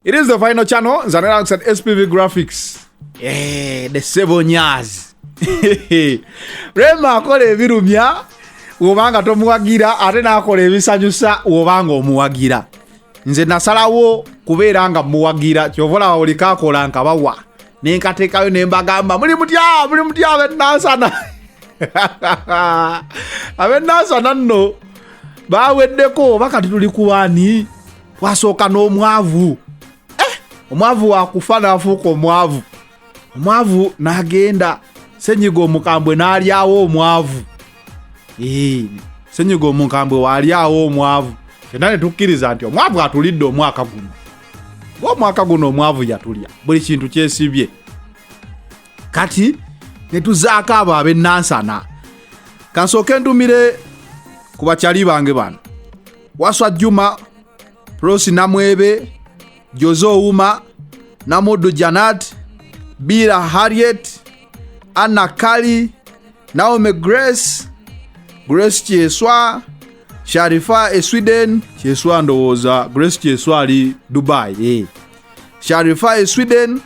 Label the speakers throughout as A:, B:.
A: It is the final channel nzane alongside SPV Graphics. Eh, the seven years. Rema akola ebirumya wobanga tomuwagira ate nakola ebisanyusa wobanga omuwagira. Nze nasalawo kubeera nga muwagira kyova olaba buli kakola nkabawa nenkateekayo nembagamba muli mutya muli mutya benansana abenansana nno baweddeko oba kati tuli kuwani wasooka n'omwavu eh, omwavu wakufa nafuuka omwavu omwavu nagenda senyiga omukambwe nalyawo omwavu eh, senyiga omukambwe walyawo omwavu fena netukkiriza nti omwavu atulidde omwaka guno ngaomwaka guno omwavu yatulya buli kintu kyesibye kati netuzaako abo abenansana kansooke ndumire ku bakyali bange bano waswa juma rosi namwebe joze owuma namuddu janat bira harriet anna kali naome grace grace kyeswa sharifa e sweden kyeswa ndowooza grace kyeswa ali dubai eh. sharifa e sweden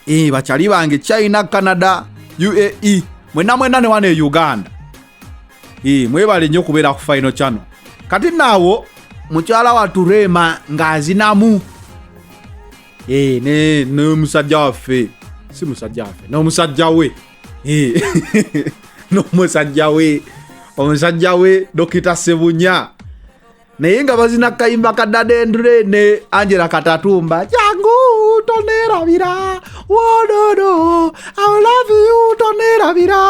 A: e, bachali bange china canada uae mwena mwena newana e uganda e, mwebale nnyo okubeera ku final channel kati naawo mukyala watu rema ng'azinamu e, ne n'omusajja waffe si musajja waffe n'omusajja we e, n'omusajja we omusajja we dokita sebunya naye nga bazina kayimba ka dadendure ne angela katatumba jangu tonerabira wododo aulaviu tonerabira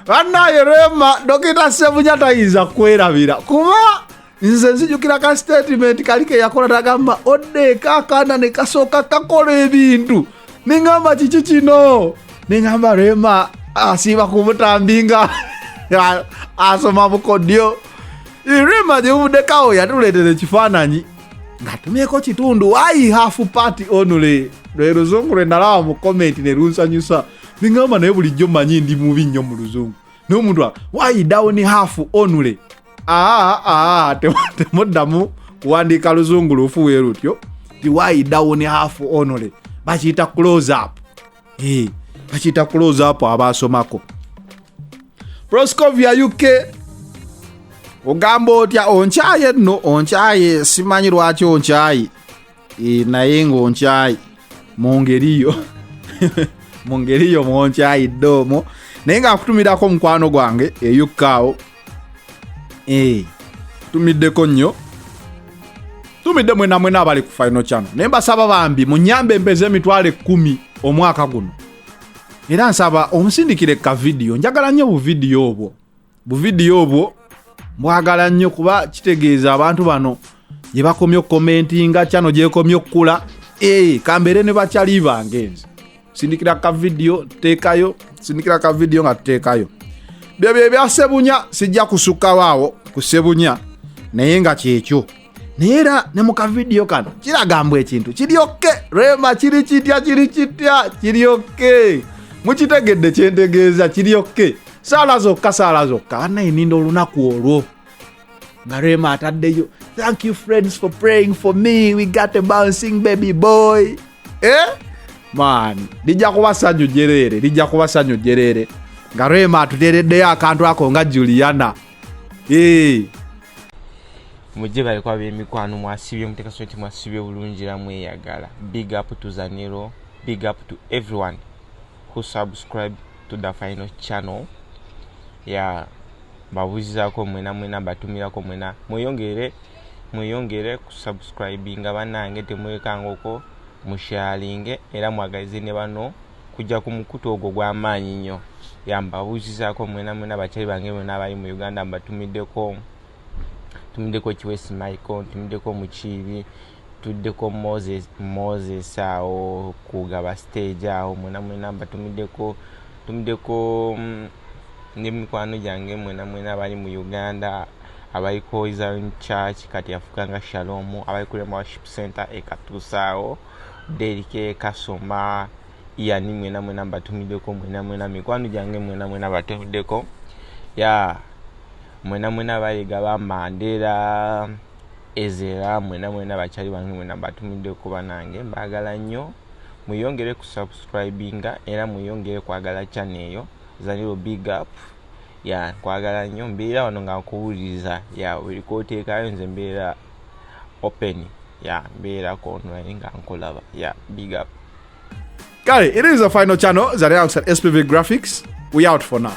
A: banaye rema dokita sebunya tayinza kwerabira kuba nze nzijukira ka statement kali keyakola tagamba odde kakana ne kasooka kakola ebintu nengamba kiki kino nengamba rema asiiba kumutambinga asoma bukodyo rema gyebuvudekawo yatuleetera ekifaananyi ngatumyeko kitundu wayi hafu pati onule lwe luzungu lwe nalaba mu komenti ne lunsanyusa nengamba naye bulijjo manyi ndi mubi nnyo mu luzungu naye omuntu wayi dawuni hafu onule aa aa temuddamu kuwandiika luzungu lufu we lutyo ti why down half only bakiyita close up eh, bakiyita close up abaasomako proscovia uk ogamba otya onkyaye nno onkyaye simanyi lwaki onkyayi e, naye ngaonkyayi mu ngeri yo mu ngeri yo mwonkyayidde omwo naye ngaakutumirako omukwano gwange eyukkaawo e, tumiddeko nnyo tumidde mwena mwena abali ku final chano naye mbasaba bambi munyambe empeza emitwalo ekkumi omwaka guno era nsaba omusindikire ka vidiyo njagala nnyo obuvidiyo obwo buvidiyo obwo mbwagala nnyo kuba kitegeeza abantu bano gye bakomye okukomentinga kyano gyekomye okukula ee kambeere ne bakyali bange nze sindikira kavidiyo teekayo sindikira kavidiyo nga tuteekayo byebyo ebyasebunya sijja kusukkawo awo ku sebunya naye nga kyekyo naye era ne mu kavidiyo kano kiragambwa ekintu kiryokke rema kiri kitya kiri kitya kiryokke mukitegedde kyentegeeza kiryokke saala zokka saala zokka banaye ninda olunaku olwo nga rema ataddeyo thank you friends for praying for me we got a bouncing baby boy eh? man lijja kuba sanyu jereere lijja kuba sanyu jereere nga rema atuteereddeyo akantu ako nga juliana hey.
B: mujje baleko abemikwano mwasibye mutekasoo nti mwasibye bulungi era mweyagala big up to zanero big up to everyone who subscribe to the final channel ya babuzizako mwena mwena batumirako mwena mweyongere mweyongere kusubscribinga banange temwekangoko musharinge era mwagalize ne bano kujja ku mukutu ogwo gw'amaanyi nnyo ya mbabuuzizaako mwena mwena bakyali bange bonna abali mu uganda mbatumiddeko tumiddeko kiwesi michael tumiddeko mukiibi tuddeko moses moses awo kugaba stage awo mwena mwena mbatumiddeko tumiddeko mm, ne mikwano gyange mwena mwena abali mu uganda abali ku hoizon church kati afukanga shalom abali ku rema worship center ekatuusaawo Derike Kasoma yani mwena mwena mbatumideko mwena mwena mikwano gyange mwena mwena batumideko ya mwena mwena bayega ba Mandela Ezera mwena mwena bakyali bange mwena mbatumideko banange mbagala nnyo mweyongere ku subscribinga era mweyongere kwagala channel eyo zaniro big up ya kwagala nnyo mbeera wano nga nkuwuliriza ya buli kwoteekayo nze mbeera open ya mbeerako online nga nkulaba ya big up
A: kale it is the final channel zari outside spv graphics we out for now